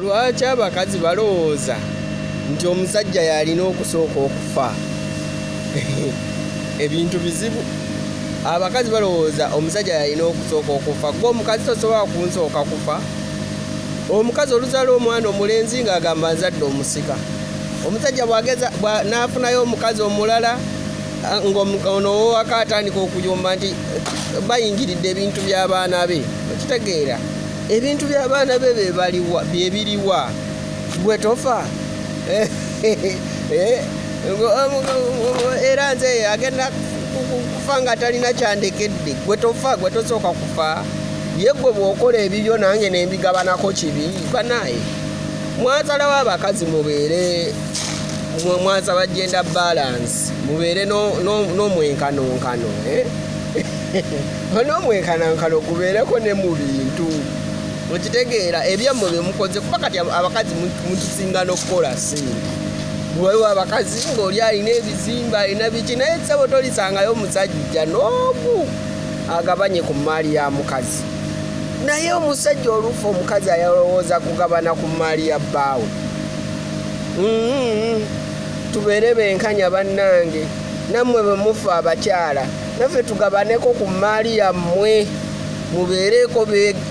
Lwaki abakazi balowooza nti omusajja yalina okusooka okufa? Ebintu bizibu. Abakazi balowooza omusajja yalina okusooka okufa. Gwe omukazi tosobola kunsooka kufa. Omukazi oluzala omwana omulenzi ng'agamba nzadde omusika. Omusajja bwageza n'afunayo omukazi omulala ng'ono owaka atandika okuyomba nti bayingiridde ebintu by'abaana be. Okitegeera? ebintu byabaana be bebaliwa byebiriwa gwe tofa eh, eh, era nze agenda kufa nga talina kyandekedde gwe tofa gwe tosooka kufa ye gwe bwokola ebibyo nange nembigabanako kibi banaye mwasalawo abakazi mubeere mwasaba genda balance mubeere n'omwenkanonkano eh? n'omwenkanankana ogubeereko ne mu bintu okitegeera ebyammwe bye mukoze kuba kati abakazi mutusinga n'okukola sente waliwo abakazi ng'oli alina ebizimba alina biki naye ssebo tolisangayo omusajja n'omu agabanye ku mmaali ya mukazi naye omusajja oluufu omukazi ayalowooza kugabana ku mmaali ya bbaawe mm-hmm. tubeere benkanya bannange nammwe bwe mufa abakyala naffe tugabaneko ku mmaali yammwe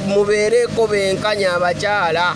mubeereko benkanya abakyala